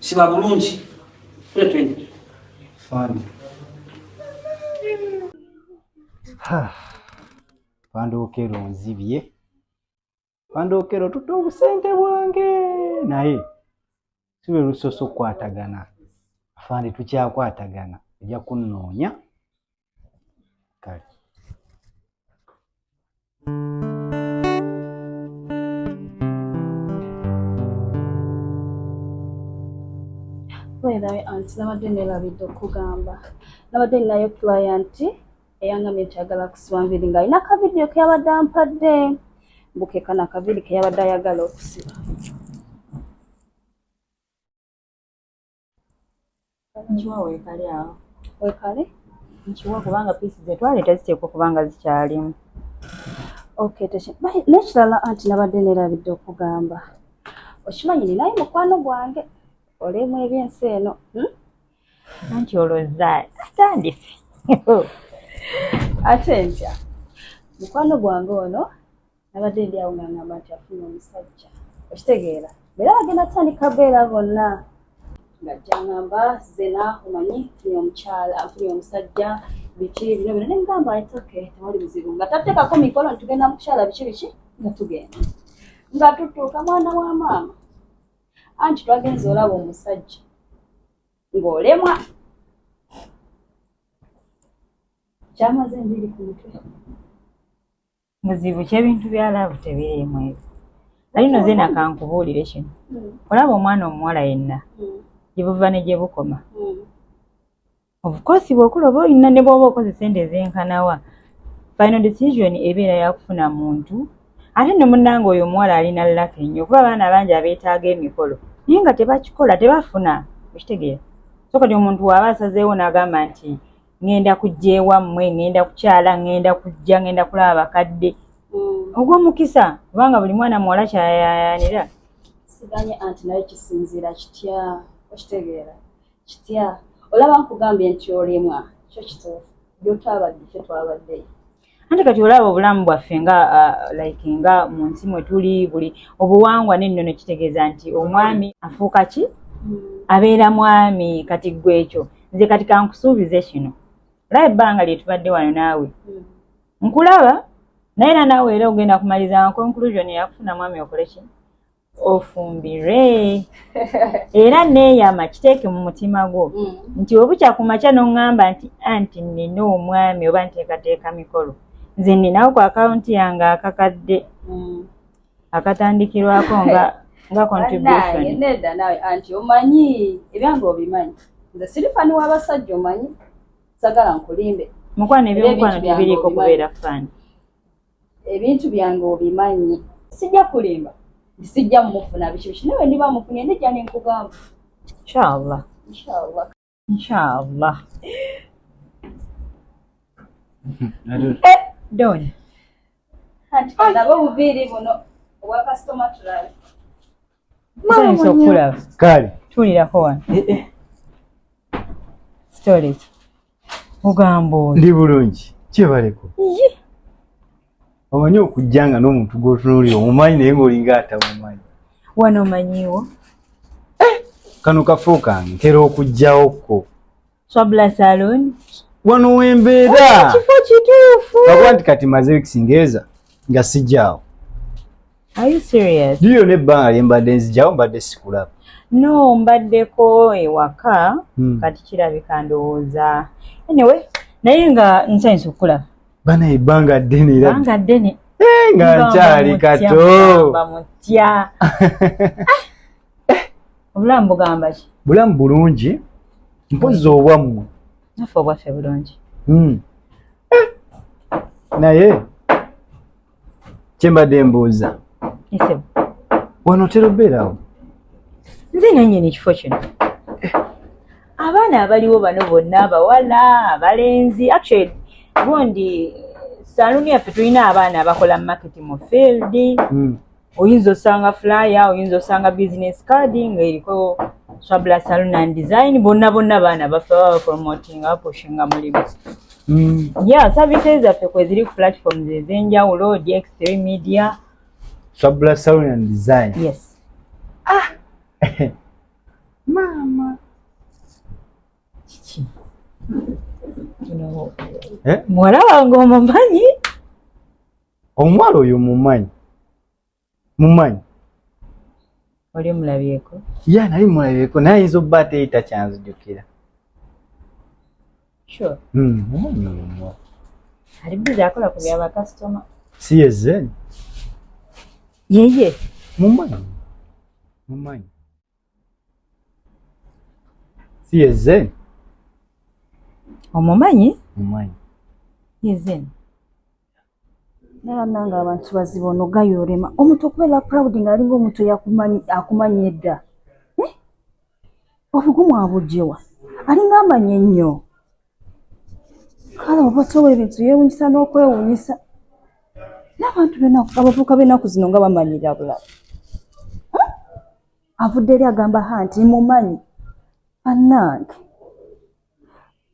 siba bulungi kule twende fani pandookero nzibye pandookero tuta obusente bwange naye sibe lusosa okukwatagana afande tukyakwatagana ojja kunnoonya kale Wera anti nabadde neerabidde okugamba nabadde ninayo client eyangamye nti ayagala kusiba nviiri ng'alina akavidiyo ke yabadde ampadde mbukekana akaviiri ke yabadde ayagala okusiba nkiwa weekale awo weekale nkiwa kubanga piisi zetwale teziteekwa kubanga zikyalimu okay nekirala anti nabadde nerabidde okugamba okimanyi ninaye mukwano gwange olemu ebyensi eno hmm? anti olwoza atandise ate ntya mukwano gwange ono nabadde ndi awo nga ngamba nti afuna omusajja okitegeera era bagenda kutandika beera bonna nga jangamba zena omanyi funi omukyala funi omusajja biki bino bino nemugamba itoke tewali buzibu nga tatekako mikolo ntitugenda mukukyala biki biki nga tugenda nga tutuuka mwana wa maama anti twagenza olaba omusajja ng'olemwa kyamaze enviri ku mutwe muzibu kyebintu bya laavu tebiriimu ebyo naye no zena kankubuulire kino hmm. olaba omwana omuwala yenna hmm. gyebuva ne gye bukoma hmm. obukosi bwokula oba olina ne bwoba okoze sente ezenkanawa final decision ebeera yakufuna muntu ate ne munnanga oyo omuwala alina laka ennyo okuba abaana bangi abeetaaga emikolo naye nga tebakikola tebafuna okitegeera so kati omuntu waaba asazeewo n'agamba nti ŋŋenda kujja ewammwe ŋŋenda kukyala ŋŋenda kujja ŋŋenda kulaba bakadde mm. ogw'omukisa kubanga buli mwana muwala kyayayanira siganye anti naye kisinziira kitya okitegeera kitya olaba nkugambye nti olemwa kyo kituufu byotwabadde fye twabaddeyo anti kati olaba obulamu bwaffe nga uh, like nga mu nsi mwe tuli buli obuwangwa n'ennono kitegeeza nti omwami afuuka ki abeera mwami kati ggwe ekyo nze kati kankusuubize kino olaba ebbanga lye tubadde wano naawe nkulaba naye era naawe era ogenda kumaliza conclusion yakufuna mwami okole ki ofumbire era neeyama kiteeke mu mutima gwo mm. nti webukya ku makya n'oŋŋamba nti anti nnina omwami oba nteekateeka mikolo nze nninawo ku akawunti yange akakadde mm. akatandikirwako nga nga contribution nedda nawe anti omanyi ebyange obimanyi nze siri fani w'abasajja omanyi sagala nkulimbe mukwano ebyomukwano tebiriiko kubeera fani ebintu byange obimanyi sijja kulimba sijja mufuna biki biki nawe niba mufuna endijja nenkugamba inshallah inshallah inshallah eh, don ati kalabe obuviiri buno obwa customer tulala kale tuulirako wano eh, eh. storage ogamba oyo ndi bulungi kyebaleko omanyi okujja nga n'omuntu gwotunuulira omumanyi naye ngaolinga atamumanyi wano omanyiwo eh! kano kafuuka ntera okujjawo kko Swabla Salon. Wano wembeera. Kifo kituufu. Nakuba nti kati maze weeks ngeza nga sijjaawo. Are you serious? Ndiyo n'ebbanga lye mbadde nzijjawo mbadde sikulaba. No, mbaddeko ewaka hmm. kati kirabika ndowooza. Anyway, naye nga nsanyusa okukulaba. Bana ebbanga ddene era. Ebbanga ddene. Eh, nga nkyali kato. Bamutya. eh! obulamu bugamba ki bulamu bulungi mpozi obwammwe nafe obwaffe bulungi hmm. eh! naye kyembadde mbuuza wano otera obeerawo nze nanyini ekifo kino eh! abaana abaliwo bano bonna abawala abalenzi actually gundi saluuni yaffe tulina abaana abakola market mu field hmm. oyinza osanga flyer oyinza osanga business card nga eriko swabula salon and design bonna bonna baana baffe baba bapromotinga bapushinga mulimu mm. ya services zaffe kweziri ku platforms ezenjawulo dx3 media swabula salon and design yes ah mama kiki eh? muwala wange omumanyi omuwala oyo mumanyi mumanyi oli mulabyeko ya nali mulabyeko naye ayinza obba ateyita kyanzijukira sure. mm, mumanyi oyo omuwala ali bizi akola ku bya bakasitoma si yezen yeye mumanyi mumanyi si yezen omumanyi mumanyi yezen naye banange abantu baziba ono gayorema omuntu okubeera proud nga alinga omuntu akumanyi edda eh? obugumu abujewa alinga amanyi ennyo kale oba towa ebintu yewunyisa n'okwewunyisa n'abantu abavuuka b'enaku zino nga bamanyira bulala eh? avudde eri agamba ha nti mumanyi banange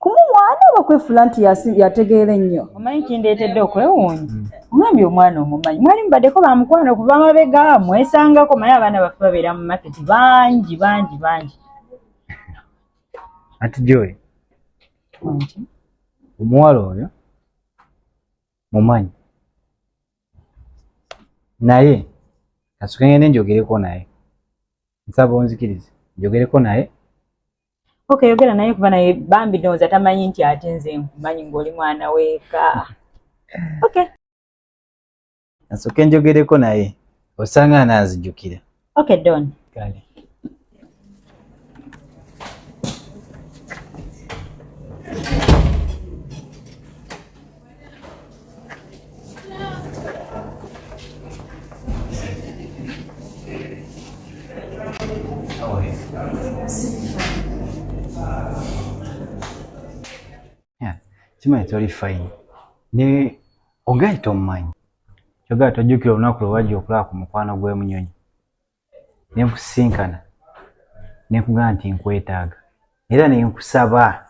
kumumwana oba kwefula nti yategeera ennyo omanyi kindeetedde okwewuunya mm. omwami omwana omumanyi mwali mubaddeko bamukwano okuva mabega mwesangako maye abaana baffe babeera mu maketi bangi bangi bangi ati joy omuwala oyo mumanyi naye kasukengende njogereko naye nsaba onzikirize njogereko naye Okay, yogera naye kuba naye bambi ndowooza tamanyi nti ate nze nkumanyi ng'oli mwana weeka. Okay. Nasooke njogereko naye osanga anaanzijukira. Okay, Don. Kale. kimanyi toli fine ne ogayi tomumanyi kyogera tojjukira olunaku lwe wajja okulaba ku mukwano gw'emunyonyi ne nkusisinkana ne nkugamba nti nkwetaaga era ne nkusaba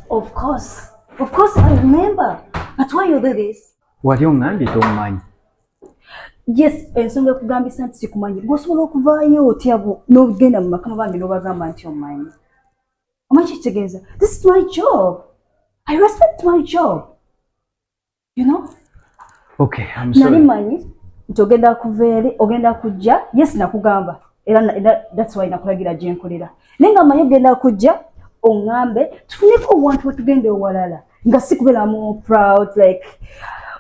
of course of course i remember but why you do this wali ongambye tomumanyi yes ensonga ekugambisa nti sikumanyi gwosobola okuvaayo otya n'ogenda mu makama bambi n'obagamba nti omanyi omanyi kitegeeza this is my job i respect my job you know okay i'm sorry nani manyi ntogenda kuvere ogenda kujja yes nakugamba era that's why nakulagira jenkolera nenga manyi ogenda kujja ongambe tufuneko owantu wetugenda owalala nga sikubera mu proud like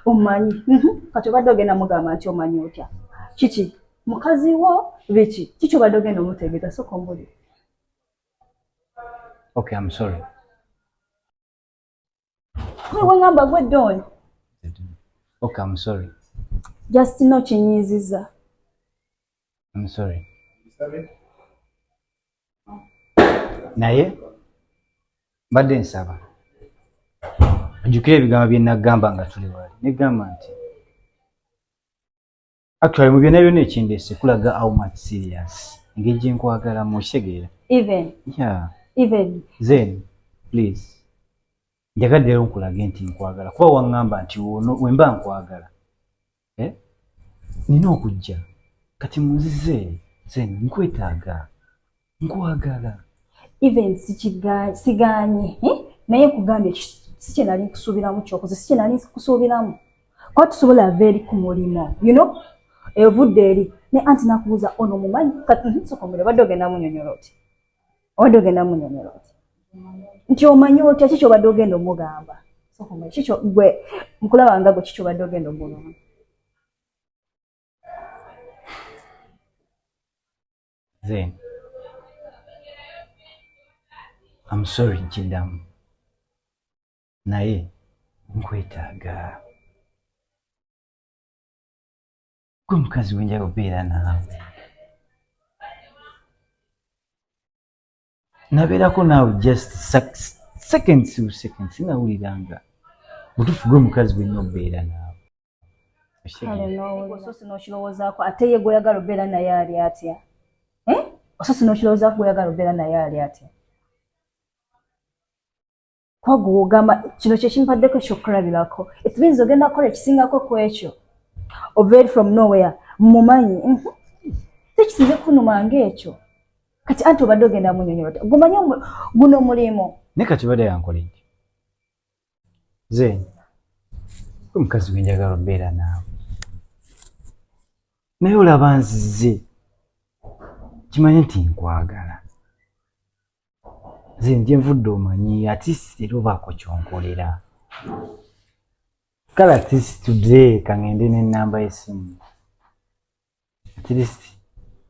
omanyi mhm. kati obadde ogenda mugamba nti omanyi otya kiki mukazi wo biki kiki obadde ogenda omutegeeza soka ombuli okay i'm sorry Kwe wangamba gwe don. Okay, I'm sorry. Just no kinyiziza. I'm sorry. Naye mbadde nsaba ojjukira ebigambo bye nagamba nga tuli wali negamba nti actually mu byonna byonna ekindeese kulaga how much serious engeri gye nkwagalamu okitegeera even yeah even then please njagadde lero nkulage nti nkwagala kuba waŋŋamba nti ono wemba nkwagala eh? nina okujja kati munzize then nkwetaaga nkwagala even siganye eh? naye nkugambye sikyenali nkusuubiramu kyokoze sikyenali nkusuubiramu kuba tusobola ava eri ku mulimu you know evudde eri naye anti nakubuuza ono mumanyi mhm, sokomere obadde ogenda munyonyola oti obadde ogenda munyonyola oti nti omanyi otya ki kyobadde ogenda omugamba sokomere kikyo gwe nkulaba nga gwe kikyobadde ogenda omugamba then am sorry nkiddamu naye nkwetaaga gwe mukazi wenjaga okubeera naawe nabeerako naawe just seconds u seconds nawulira nga mutufu gwe mukazi gwenna okubeera naawe ososi nokirowoozaako ate ye gweoyagala obeera naye ali atya eh? ososi nokirowoozaako gweoyagala obeera naye ali atya kwagwogamba kino kyekimpaddeko ekyokulabirako it means ogenda kukola ekisingako ku ekyo ovaeri from nowhere mumanyi mhm. tekisinze kunuma ngaekyo kati anti obadde ogenda munyonyola ta gumanyi guno mulimu ne kati bade yankola eki zeny omukazi wenjagala obeera naawe naye olaba nzize kimanye nti nkwagala nze nje nvudde omanyi atist era obaako kyonkolera kale atist today kangende nenamba yesimu atist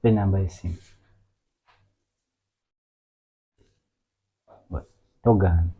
enamba yesimu togaana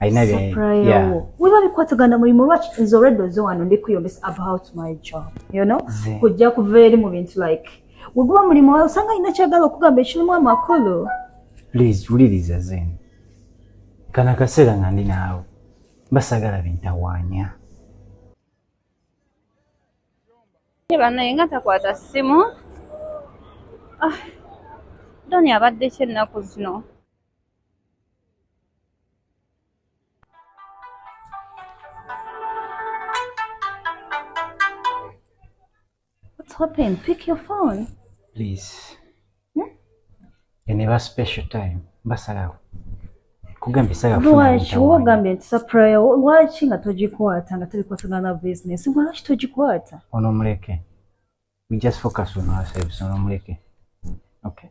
alina weba bikwatagana mulimu lwaki nze olwedda oze wano ndi kuyombesa about my job you know kujja kuva eri mu bintu like weguba mulimu wawe osanga alina kyagala okugamba ekirimu amakulu please wuliriza zeni kana kaseera nga ndi naawe basagala bintawaanya banaye nga takwata ssimu ah, doni abadde kyennaku zino What's happening? Pick your phone. Please. Hmm? And never special time. Basalawo. Kugambi saga funa. Lwachi wogambe nti sapray lwachi nga tojikwata nga tuli kwatana na business. Lwachi tojikwata. Ono muleke. We just focus on ourselves. Ono muleke. Okay.